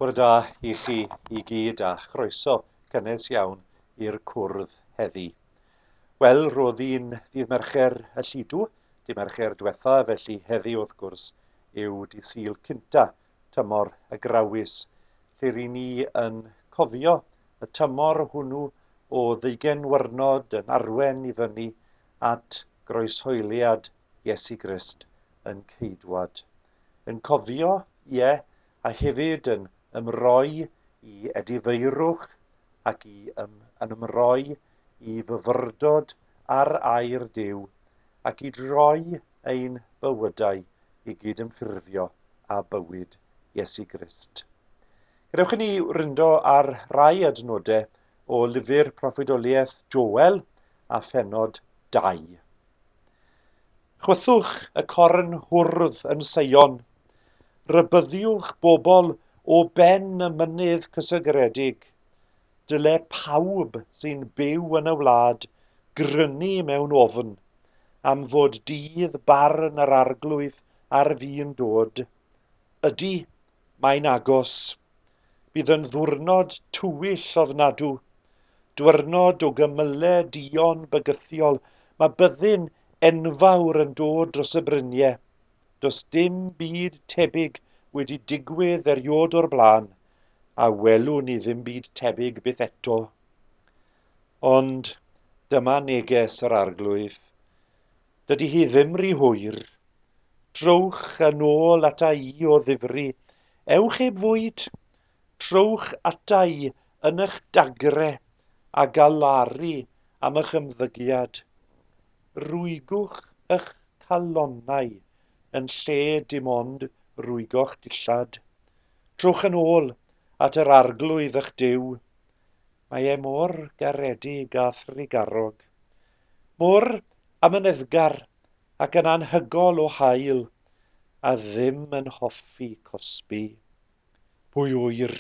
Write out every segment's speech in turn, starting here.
Bore da i chi i gyd a chroeso cynnes iawn i'r cwrdd heddi. Wel, roedd hi'n ddydd Mercher y llidw, dy Mercher diwetha, felly heddi wrth gwrs yw dy Sul cynta tymor y Grawys, lle ry'n ni yn cofio y tymor hwnnw o ddeugen wyrnod yn arwen i fyny at groeshoeliad Iesu Grist yn Ceidwad. Yn cofio, ie, a hefyd yn ymroi i edifeirwch ac i ym, yn ymroi i fyfyrdod ar air Duw, a gyd roi ein bywydau i gyd ymffurfio â bywyd Iesu Grist. Gadewch i ni wryndo ar rai adnodau o lyfr proffwydoliaeth Joel a phenod 2. Chwythwch y corn hwrdd yn Seion, rybyddiwch bobl o ben y mynydd cysegredig, Dyle pawb sy'n byw yn y wlad grynu mewn ofn am fod dydd barn yr Arglwydd ar fin dod. Ydy, mae'n agos. Bydd yn ddwrnod tywyll ofnadw, dwyrnod o gymyle dion bygythiol, mae byddin enfawr yn dod dros y bryniau. Does dim byd tebyg wedi digwydd eriod o'r blaen. a welwn ni ddim byd tebyg byth eto. Ond dyma neges yr Arglwydd. Dydy hi ddim rhy hwyr. Trowch yn ôl ata i o ddifri. Ewch heb fwyd. Trowch ata i yn eich dagre a galaru am eich ymddygiad. Rwygwch eich calonnau yn lle dim ond rwygo'ch dillad. Trwch yn ôl at yr Arglwydd ych Duw. Mae e mor garedig a thrugarog, mor amyneddgar ac yn anhygol o hael, a ddim yn hoffi cosbi. Pwy ŵyr?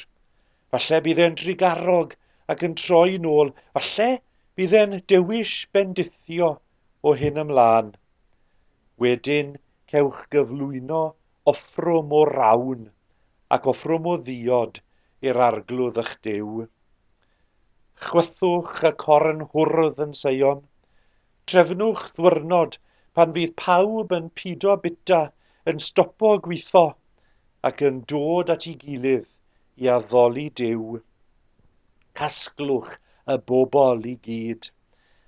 Falle bydd e'n drugarog ac yn troi nôl, falle bydd e'n dewis bendithio o hyn ymlaen. Wedyn, cewch gyflwyno offrwm o rawn ac offrwm o ddiod i'r arglwydd ych Duw. Chwythwch y corn hwrdd yn Seion, Trefnwch ddwyrnod pan fydd pawb yn pido bita, yn stopo gwitho, ac yn dod at ei gilydd i addoli Duw. Casglwch y bobl i gyd,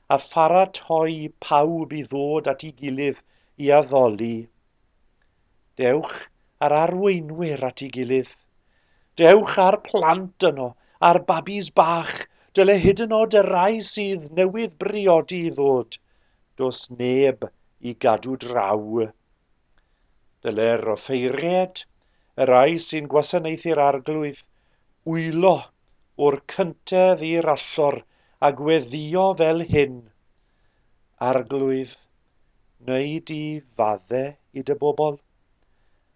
a pharatoi pawb i ddod at ei gilydd i addoli. Dewch a'r arweinwyr at ei gilydd. Dewch â'r plant yno, a'r babis bach, dyle hyd yn od y rai sydd newydd briodi i ddod. Dos neb i gadw draw. Dyle'r offeiried, y rai sy'n gwasanaethu'r arglwydd, wylo o'r cyntedd i'r allor a gweddio fel hyn. Arglwydd, neu di fadde i dy bobl.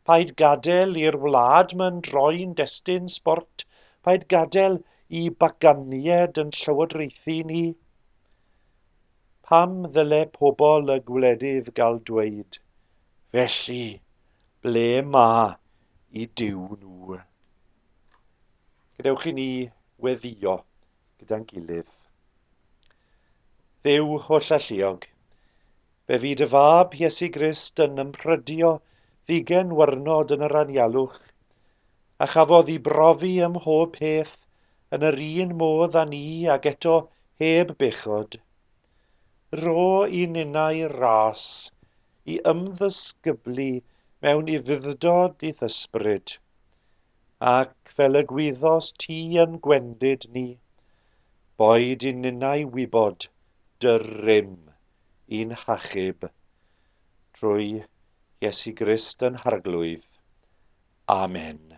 Paid gadael i'r wlad ma'n droi'n destun sbort, paid gadael i baganied yn llywodraethu ni. Pam ddyle pobl y gwledydd gael dweud, felly, ble ma i Duw nhw? Gadewch i ni weddio gyda'n gilydd. Dduw holl alluog, fe fyd y fab Iesu Grist yn ymprydio ddigen wyrnod yn yr anialwch, a chafodd i brofi ym mhob peth yn yr un modd â ni ag eto heb bechod. Ro i ninnau ras i ymddysgyblu mewn ufuddod i'th ysbryd. Ac fel y gwyddos ti yn gwendid ni, boed i ninnau wybod dy rym i'n hachub, trwy Iesu Grist yn Harglwydd. Amen.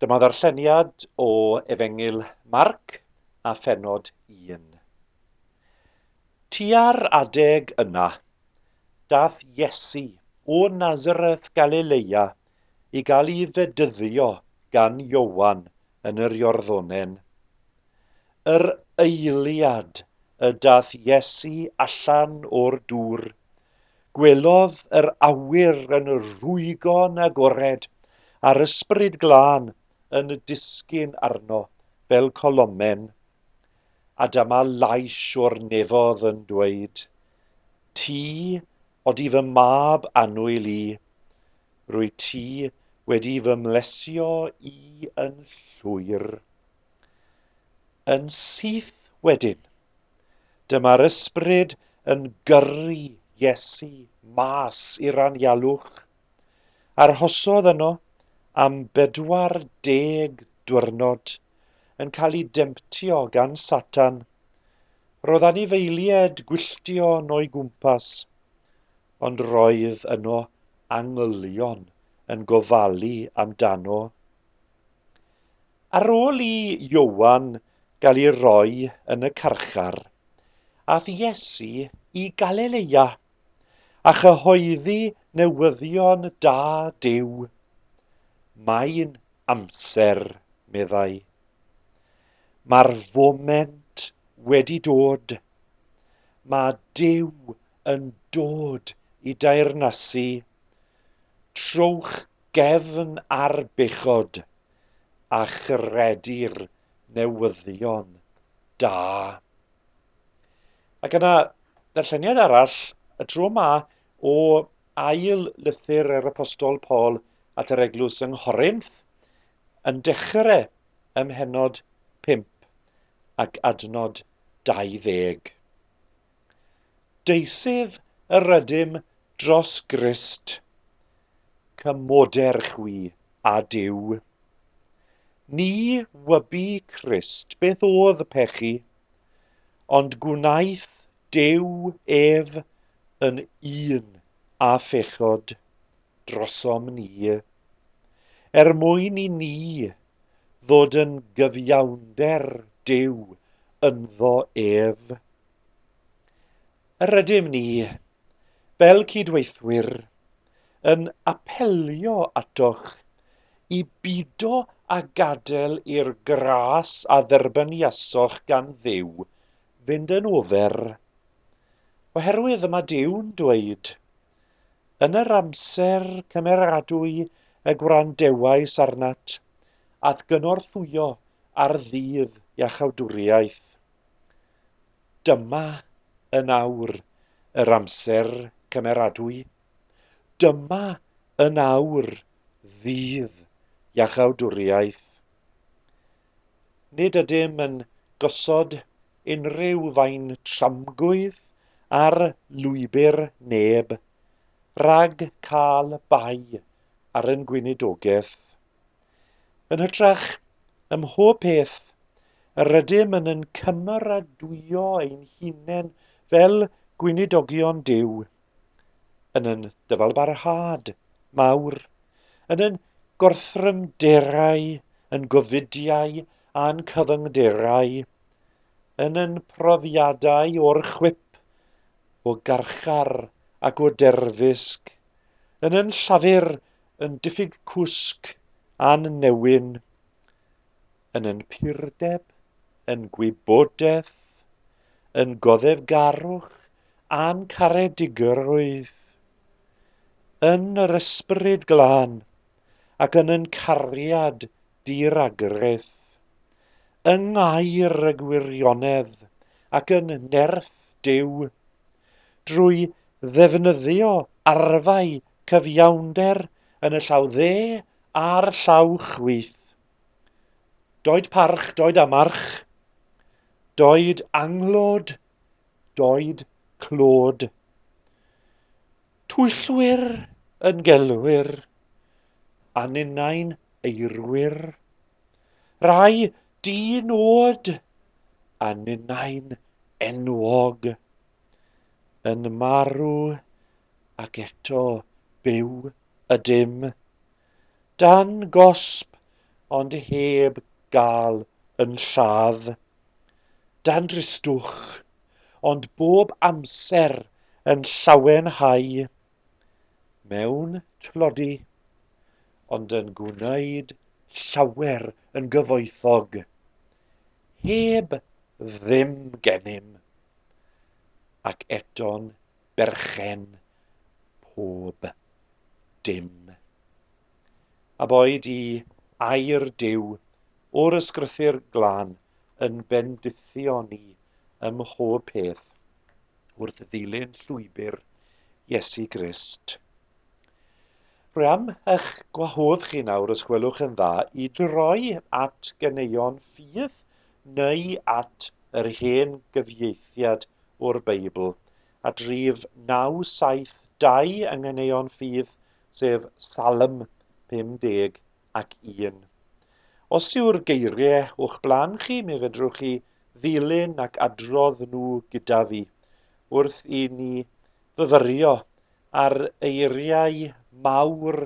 Dyma ddarlleniad o Efengyl Marc a phenod 1. Tua'r adeg yna, Daeth Iesu o Nazareth Galileia i gael ei fedyddio gan Ioan yn yr Iorddonen. Yr eiliad y daeth Iesu allan o'r dŵr, gwelodd yr awyr yn rhwygo'n agored a'r Ysbryd Glân yn disgyn arno fel colomen. A dyma lais o'r nefodd yn dweud, Ti odi fy mab annwyl i, rwyt ti wedi fy mlesio i yn llwyr. Yn syth wedyn, dyma'r ysbryd yn gyrru Iesu mas i'r anialwch, Arhosodd yno am 40 diwrnod yn cael ei demtio gan Satan. Roedd anifeiliaid gwylltion o'i gwmpas, ond roedd yno angylion yn gofalu amdano. Ar ôl i Ioan gael ei roi yn y carchar, aeth Iesu i Galilea. a chyhoeddi newyddion da Duw. Mae'n amser, meddai. Mae'r foment wedi dod. Mae Duw yn dod i daernasu. Trowch gefn ar bechod a chredu'r newyddion da. Ac yna, darlleniad arall, y tro yma o ail lythyr yr apostol Paul at yr eglwys yng Nghorinth, yn dechrau ym mhenod 5 ac adnod 20. Deisyf yr ydym dros Grist, cymoder chwi a Duw. Ni wybu Crist beth oedd pechu, Ond gwnaeth Duw ef yn un â phechod drosom ni, er mwyn i ni ddod yn gyfiawnder Duw ynddo ef. Yr ydym ni, fel cydweithwyr, yn apelio atoch i bido a gadael i'r gras a dderbyniasoch gan Dduw fynd yn ofer. Oherwydd y mae Duw'n dweud, Yn yr amser cymeradwy y gwrandewais arnat, ath gynorthwyo ar ddydd iachawdwriaeth. Dyma yn awr yr amser cymeradwy, dyma yn awr ddydd iachawdwriaeth. Nid ydym yn gosod unrhyw fain tramgwydd ar lwybr neb, rhag cael bai ar ein gweinidogaeth. Yn hytrach, ym mhob peth, yr ydym yn yn cymeradwyo ein hunain fel gweinidogion Duw, yn yn dyfalbarhad mawr, yn yn gorthrymderau, yn gofidiau a'n cyfyngderau, yn yn profiadau o'r chwip, o garchar ac o derfysg, yn yn llafur yn diffyg cwsg a'n newyn, yn yn purdeb, yn gwybodaeth, yn goddefgarwch a'n caredigrwydd, yn yr ysbryd glân ac yn yn cariad di-ragrith, yng ngair y gwirionedd ac yn nerth Duw, drwy ddefnyddio arfau cyfiawnder yn y llaw dde a'r llaw chwith. Doed parch, doed amarch, doed anglod, doed clod. Twyllwyr yn gelwyr, a ninnau'n eirwyr. Rai di-nod, a ninnau'n enwog. yn marw ac eto byw ydym, dan gosb ond heb gael yn lladd, dan dristwch ond bob amser yn llawenhau, mewn tlodi ond yn gwneud llawer yn gyfoethog. heb ddim gennym, ac eto'n berchen pob dim. A boed i air Duw o'r ysgrythyr glân yn bendithio ni ym mhob peth wrth ddilyn llwybr Iesu Grist. Rwy am eich gwahodd chi nawr, os gwelwch yn dda, i droi at ganeuon ffydd neu at yr hen gyfieithiad o'r Beibl, at rif 972 yng Nghaneuon Ffydd, sef Salm 51. Os yw'r geiriau o'ch blaen chi, mi fedrwch chi ddilyn ac adrodd nhw gyda fi wrth i ni fyfyrio ar eiriau mawr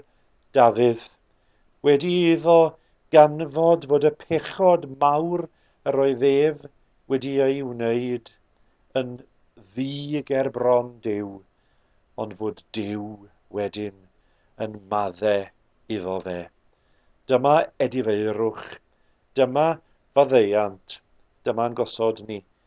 Dafydd, wedi iddo ganfod fod y pechod mawr yr oedd ef wedi ei wneud yn ddu ger bron Duw, ond fod Duw wedyn yn madde iddo fe. Dyma edifeirwch, dyma faddeuant, dyma'n gosod ni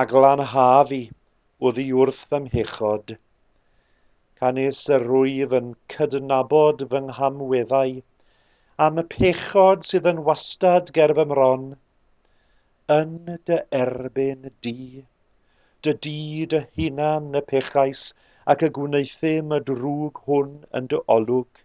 a glanhaf i oddi wrth fy mhechod. Canys yr rwyf yn cydnabod fy nghamweddau, am y pechod sydd yn wastad ger fy mron, yn dy erbyn di. Dy di dy hunan y pechais ac y gwneuthum y drwg hwn yn dy olwg.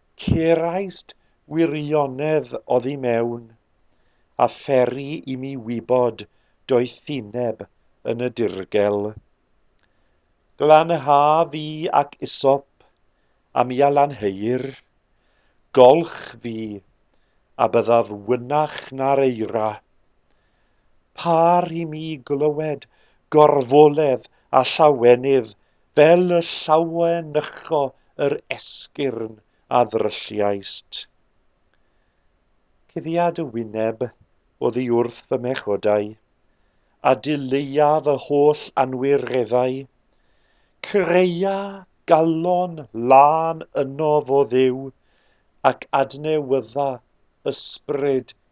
Ceraist wirionedd oddi mewn, a pheri i mi wybod doethineb yn y dirgel. Glanhaf i ac isop, a mi a lanheir. Golch fi, a byddaf wynach na'r eira. Pâr i mi glywed gorfoledd a llawenydd fel y llawenycho yr esgyrn a ddrylliaist. Cuddiad y wyneb oddi wrth fy mhechodau, a dileia fy holl anwireddau. Creia galon lân ynof, o Dduw, ac adnewydda ysbryd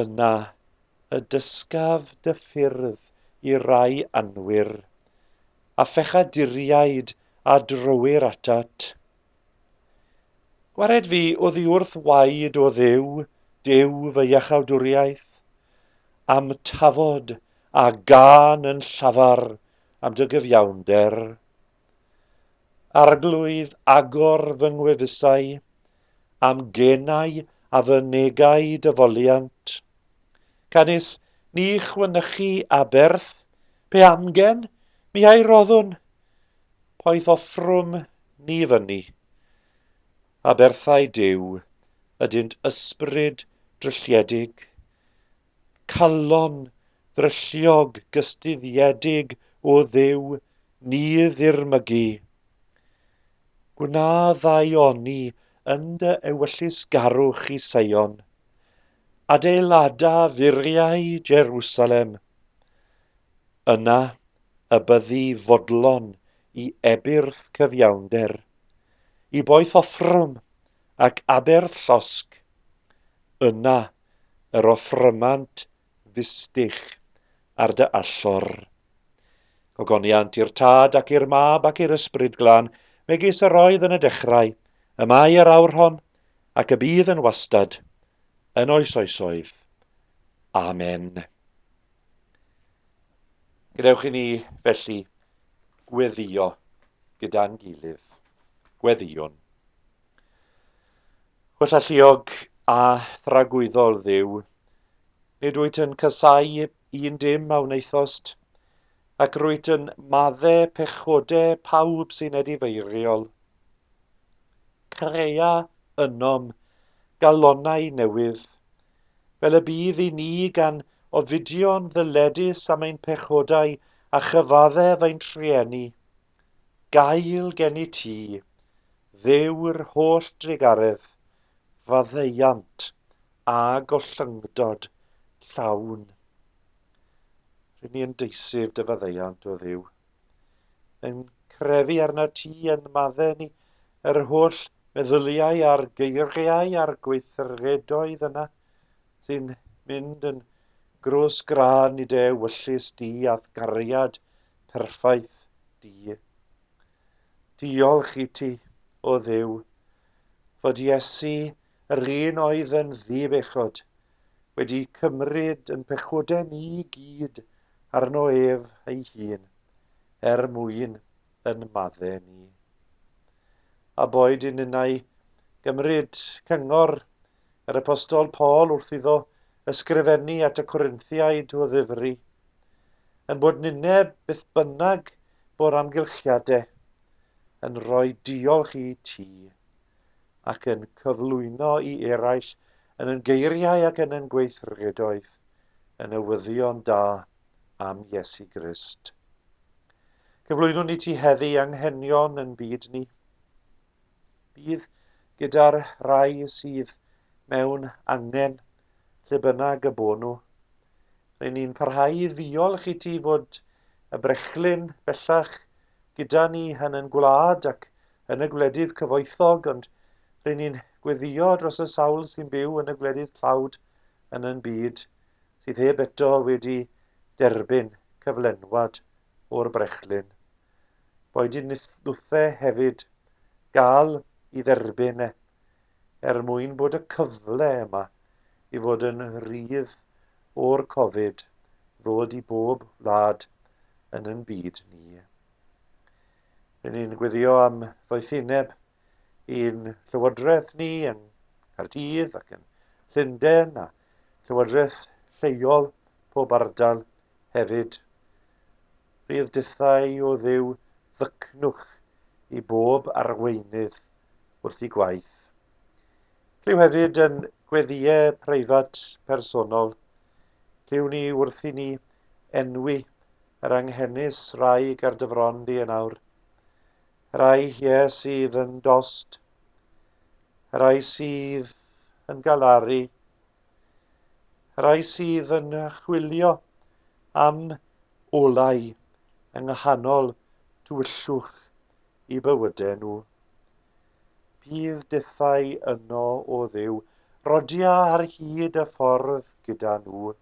Yna y dysgaf dy ffyrdd i rai anwir, a phechaduriaid a drywir atat. Gwared fi oddiwrth waed, o Dduw, Duw fy iachawdwriaeth, am tafod a gân yn llafar am dy gyfiawnder. Arglwydd, agor fy ngwefusau, a'm genau a fy negau dy foliant. Canys ni chwynychu aberth, pe amgen mi a'i roddwn, poeth offrwm ni fyny. Aberthau Duw ydynt ysbryd drylliedig, calon ddrylliog gystuddiedig o Dduw ni ddirmygu. Gwna ddau oni yn dy ewyllysgarwch i Seion, adeilada furiau Jerusalem. Yna y byddi fodlon i ebyrth cyfiawnder, i boeth offrwm ac aberth llosg. Yna yr offrymant fistich ar dy allor. Gogoniant i'r Tad ac i'r Mab ac i'r Ysbryd Glân, megis yr oedd yn y dechrau, y mae yr awr hon, ac y bydd yn wastad, yn oes oesoedd. Amen. Gwnewch i ni felly gweddio gyda'n gilydd. Gweddiwn. Gwell alluog a thragwyddol Dduw, nid wyt yn casau un dim a wnaethost, ac rwyt yn madde pechode pawb sy'n edifeiriol. Crea ynom galonau newydd, fel y bydd i ni gan ofidio'n ddyledus am ein pechodau a chyfaddef ein trueni. Gael gen i ti, Dduw'r holl drugaredd, faddeuant a gollyngdod llawn. R'yn ni yn deisyf dy faddeuant, o Dduw, yn crefu arnat ti yn madde ni yr holl meddyliau a'r geiriau a'r gweithredoedd yna sy'n mynd yn grws grân i dy ewyllys di a'th gariad perffaith di. Diolch i ti, o Dduw, fod Iesu yr un oedd yn ddi-bechod, wedi cymryd yn pechodau ni gyd arno ef ei hun, er mwyn yn madde ni. A boed i ninnau gymryd cyngor Yr apostol Paul wrth iddo ysgrifennu at y Corinthiaid o ddifri, yn bod nine beth bynnag bo'r amgylchiade, yn rhoi diolch i ti, ac yn cyflwyno i eraill yn yn geiriau ac yn yn gweithredoedd, yn newyddion da am Iesu Grist. Cyflwynwn i ti heddi anghenion yn byd ni. Bydd gyda'r rhai sydd mewn angen lle bynnag y bod nhw. Rydyn ni'n parhau i ddiolch i ti fod y brechlyn bellach gyda ni yn yn gwlad ac yn y gwledydd cyfoethog, ond rydyn ni'n gweddio dros y sawl sy'n byw yn y gwledydd tlawd yn yn byd sydd heb eto wedi derbyn cyflenwad o'r brechlyn. Boed yn nithwthe hefyd gael i dderbyn e, er mwyn bod y cyfle yma i fod yn rhydd o'r Covid ddod i bob wlad yn yn byd ni. Rydyn ni'n gweddio am ddoethineb i'n llywodraeth ni yng Nghaerdydd ac yn Llundain a llywodraeth lleol pob ardal hefyd. Rhydd dithau o ddew ddycnwch i bob arweinydd wrth i gwaith. Lliw hefyd yn gweddiau preifat personol. Lliw ni wrth i ni enwi yr anghenus rai gardyfron di yn awr. Rhai lle sydd yn dost, rhai sydd yn galaru, rhai sydd yn chwilio am olau yng nghanol tywyllwch i bywydau nhw. Bydd dethau yno o Dduw, rodia ar hyd y ffordd gyda nhw.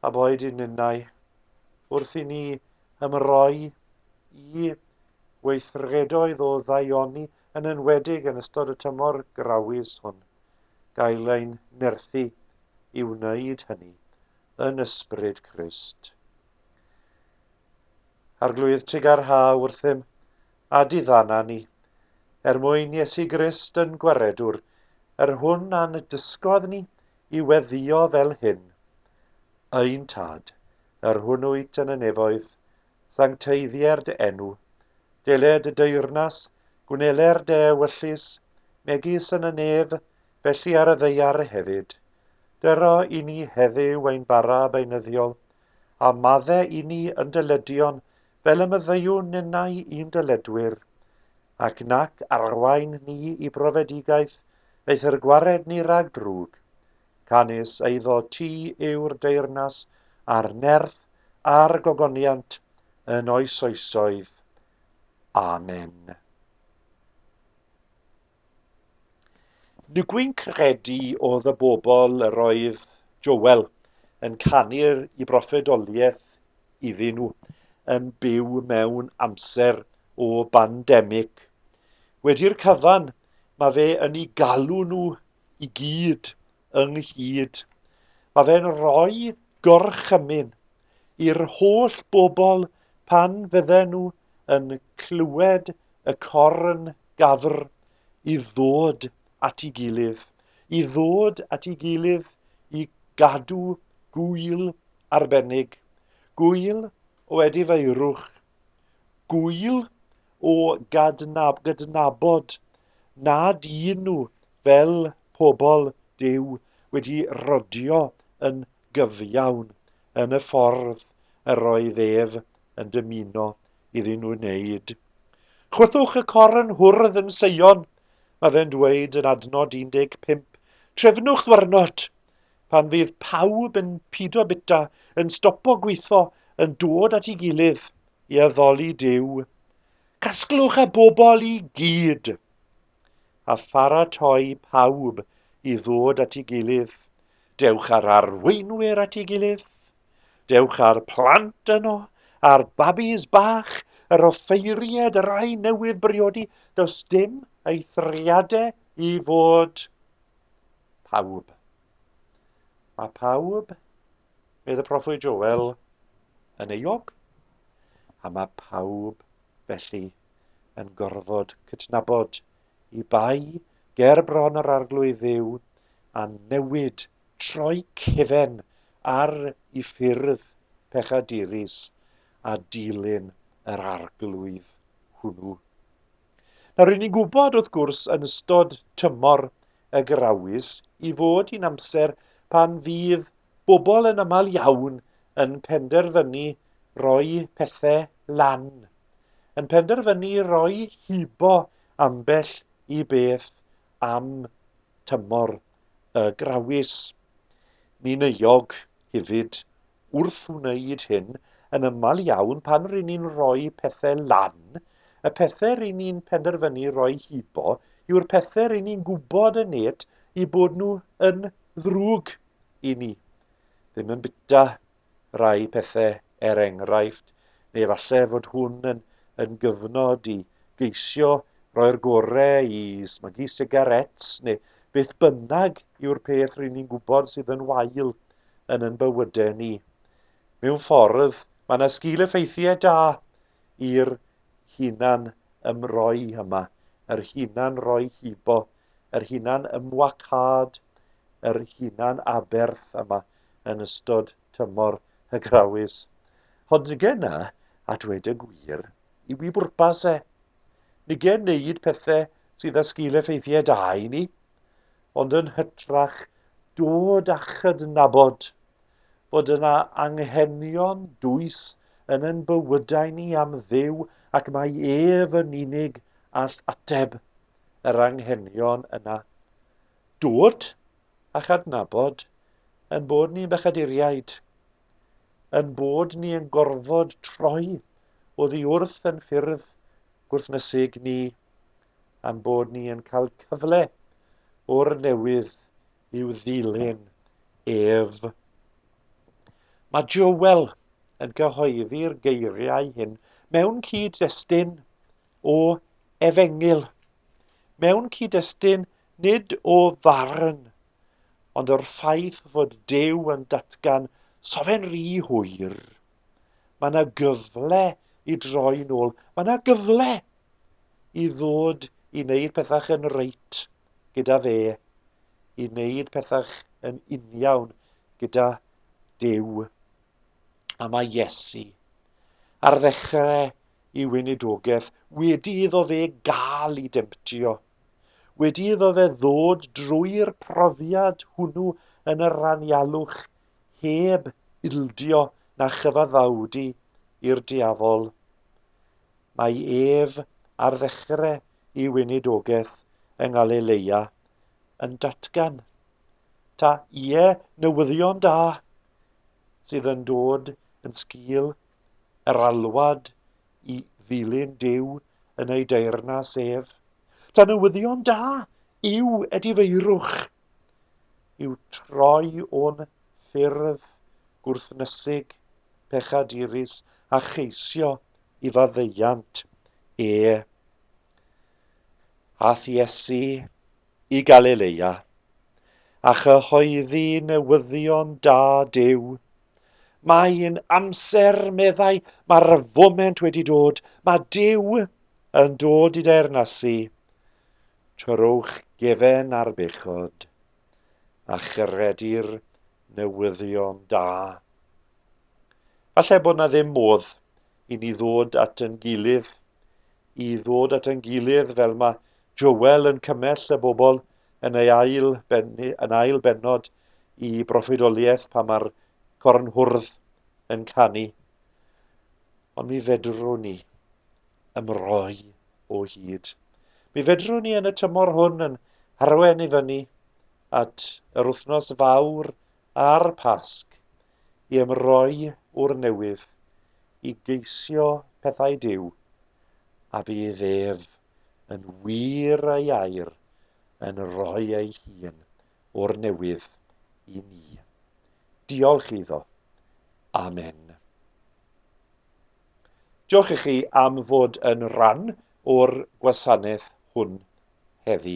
a boed yn ninnau, wrth i ni ymroi i weithredoedd o ddaioni, yn enwedig yn ystod y tymor grawys hwn, gael ein nerthu i wneud hynny yn ysbryd Crist. Arglwydd, tuga'r ha wrthym, a diddanna ni, er mwyn Iesu Grist yn Gwaredwr, yr hwn a'n dysgodd ni i weddio fel hyn, Ein Tad, yr hwn wyt yn y nefoedd, sancteiddier dy enw, deled y deyrnas, gwneler dy ewyllys, megis yn y nef, felly ar y ddeiar hefyd. Dyro i ni heddiw ein bara beinyddiol, a madde i ni yn dyleduon fel y myddeuwn ninnau i'n dyledwyr, ac nac arwain ni i brofedigaeth eithr gwared ni rag drwg. Canys eiddo ti yw'r deyrnas a'r nerth a'r gogoniant yn oes oesoedd. Amen. Nygwyn credu oedd y bobl yr oedd Joel yn canu'r i broffedoliaeth iddyn nhw yn byw mewn amser o bandemig. Wedi'r cyfan, mae fe yn i galw nhw i gyd ynghyd. Mae fe'n rhoi gorchymyn i'r holl bobl pan fydden nhw yn clywed y corn gafr i ddod at ei gilydd, i ddod at ei gilydd i gadw gwyl arbennig, gwyl o edifeirwch, gwyl o gadnab, gydnabod Na dyn nhw, fel pobl Duw, wedi rodio yn gyfiawn yn y ffordd yr oedd ef yn dymuno iddyn nhw wneud. Chwythwch y cor yn hwrdd yn Seion, mae fe'n dweud yn adnod 15, trefnwch ddwyrnod, pan fydd pawb yn pido bita, yn stopo gweithio, yn dod at ei gilydd i addoli Duw. Casglwch y bobl i gyd a pharatoi pawb i ddod at ei gilydd. Dewch â'r arweinwyr at ei gilydd. Dewch â'r plant yno, a'r babis bach, yr offeiried, yr rhai newydd briodi. Does dim eithriadau i fod. Pawb. Mae pawb Bydd y proffwyd Joel yn euog, a mae pawb felly yn gorfod cydnabod i bai ger bron yr arglwydd dduw a newid troi cefen ar i ffyrdd pechadurus a dilyn yr arglwydd hwnnw. Nawr, ry'n ni'n gwybod, wrth gwrs, yn ystod tymor y grawys i fod hi'n amser pan fydd bobl yn aml iawn yn penderfynu roi pethau lan, yn penderfynu roi hibo ambell i beth am tymor y grawys. Ni'n euog hefyd wrth wneud hyn, yn aml iawn pan ry'n ni'n rhoi pethau lan, y pethau ry'n ni'n penderfynu roi hibo yw'r pethau ry'n ni'n gwybod yn net i bod nhw yn ddrwg i ni. Ddim yn bita rai pethau er enghraifft, neu efallai fod hwn yn, yn gyfnod i geisio roi'r gorau i smygu sigarets neu beth bynnag yw'r peth ry'n ni'n gwybod sydd yn wael yn yn bywydau ni. Mewn ffordd, mae yna sgil effeithiau da i'r hunan ymroi yma, yr hunan roi hibo, yr hunan ymwacad, yr hunan aberth yma yn ystod tymor hygrawus. Ond nige yna, a dweud y gwir, i wi bwrpas e. Nige wneud pethau sydd â sgil effeithiau da i ni, ond yn hytrach dod â chydnabod bod yna anghenion dwys yn ein bywydau ni am ddew ac mae ef yn unig all ateb yr anghenion yna. Dod a chadnabod yn bod ni'n bechaduriaid, yn bod ni yn gorfod troi oddi wrth yn ffyrdd gwrthnysig ni, a'n bod ni yn cael cyfle o'r newydd i'w ddilyn ef. Mae Joel yn cyhoeddi'r geiriau hyn mewn cyd-destun o efengyl, mewn cyd-destun nid o farn, ond o'r ffaith fod Dew yn datgan sofen rhy hwyr Mae yna gyfle i droi'n ôl. Mae yna gyfle i ddod i wneud pethau yn reit gyda fe, i wneud pethau yn uniawn gyda Dyw. A mae Iesu ar ddechrau i weinidogaeth wedi iddo fe gael i demtio, wedi iddo fe ddod drwy'r profiad hwnnw yn yr anialwch heb ildio na chyfaddawdu i'r diafol. Mae ef ar ddechre i weinidogaeth yng Ngalileia yn datgan, Ta, ie, newyddion da, sydd yn dod yn sgil yr alwad i ddilyn Duw yn ei deyrnas ef. Ta newyddion da yw edifeirwch yw troi o'n ffyrdd gwrthnysig, pechadurus a cheisio i faddeuant e a thiesu i Galilea, a chyhoeddi newyddion da Duw. Mae'n amser, meddai, mae'r foment wedi dod, mae Duw yn dod i deyrnasu. Torrwch gefen ar bechod, a chredir newyddion da. Falle bod na ddim modd i ni ddod at yn gilydd, i ddod at yn gilydd fel mae Joel yn cymell y bobl yn ei ail, ben, yn ail benod i broffwydoliaeth pan mae'r cornhwrdd yn canu. Ond mi fedrwn ni. ymroi o hyd. Mi fedrwn ni yn y tymor hwn yn harwen i fyny at yr wythnos fawr a'r Pasg i ymroi o'r newydd, i geisio pethau Duw, a bydd ef yn wir ei air yn rhoi ei hun o'r newydd i ni. Diolch iddo. Amen. Diolch i chi am fod yn rhan o'r gwasanaeth hwn heddi.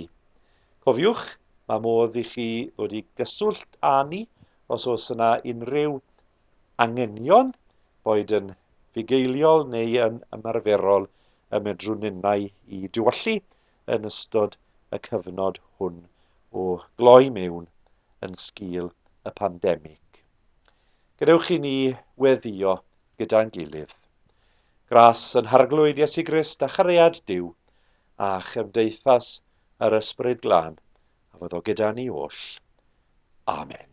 Cofiwch, mae modd i chi ddod i gyswllt â ni os oes yna unrhyw angenion, boed yn fugeiliol neu yn ymarferol, y medrwn ninnau i diwallu yn ystod y cyfnod hwn o gloi mewn yn sgil y pandemig. Gadewch i ni weddio gyda'n gilydd. Gras yn Harglwydd Iesu Grist a chariad Duw, a chymdeithas yr Ysbryd Glân, a fod o gyda ni oll. Amen.